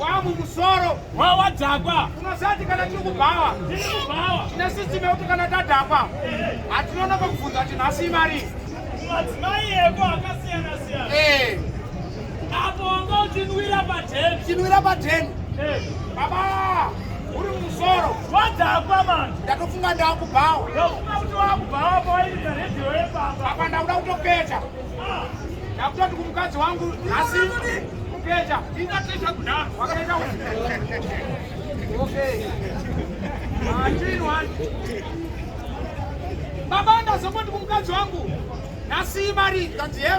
wamumusoro wawadhakwa unosati kana tiri kubhawa tiri kubhawa tine sisitemu yekuti kana tadhakwa hatinonoka kubvunza kuti nhasi imari madzimai eko akasiyana siyana eh. apo wanga uchinwira padheni uchinwira padheni eh. baba uri mumusoro wadhakwa manje ndatofunga ndakubhawa ndofunga kuti wakubhawa pawairira redhiyo yepamba apa ndakuda kutopeta Ndakutoti kumukadzi wangu nhasi kukecha. Indatesha kuda. Wakaita kuti. Okay. Machini wani. Baba ndazongoti kumukadzi wangu nhasi imari ndati he.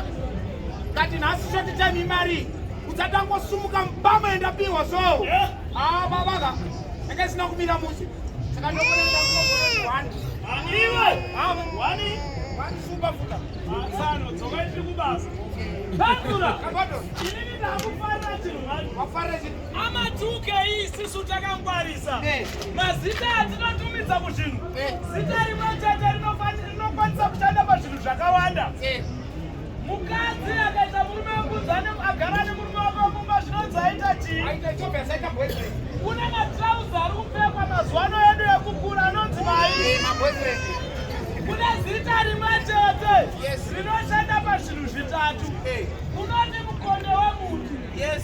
Ndati nhasi shoti time imari. Udzatangosumuka mbama yendapiwa so. Eh? Ah baba ka. Ndanga sina kumira musi. Saka ndokuenda kuona wani. Wani. Wani. Wani super futa. Matsano, dzokai tiri kubasa. Pandura! Inini ndakufarira chinhu mani. Wafarira chinhu. Amatuke isisu takangwarisa. Eh. Mazita atinotumidza kuzvinhu. Eh. Zita rimwe chete rinokwanisa kushanda pazvinhu zvakawanda. Eh. Mukadzi akaita murume wekudzane agara nemurume wako kumba zvinonzi aita chii? Aita chope asaita boyfriend. Kuna matrauza ari kupfekwa mazuva ano edu ekukura anonzi mai. Maboyfriend. Kune zita rimwe chete rinoshanda pazvinhu zvitatu. Unoti mukonde wemuti. Yes.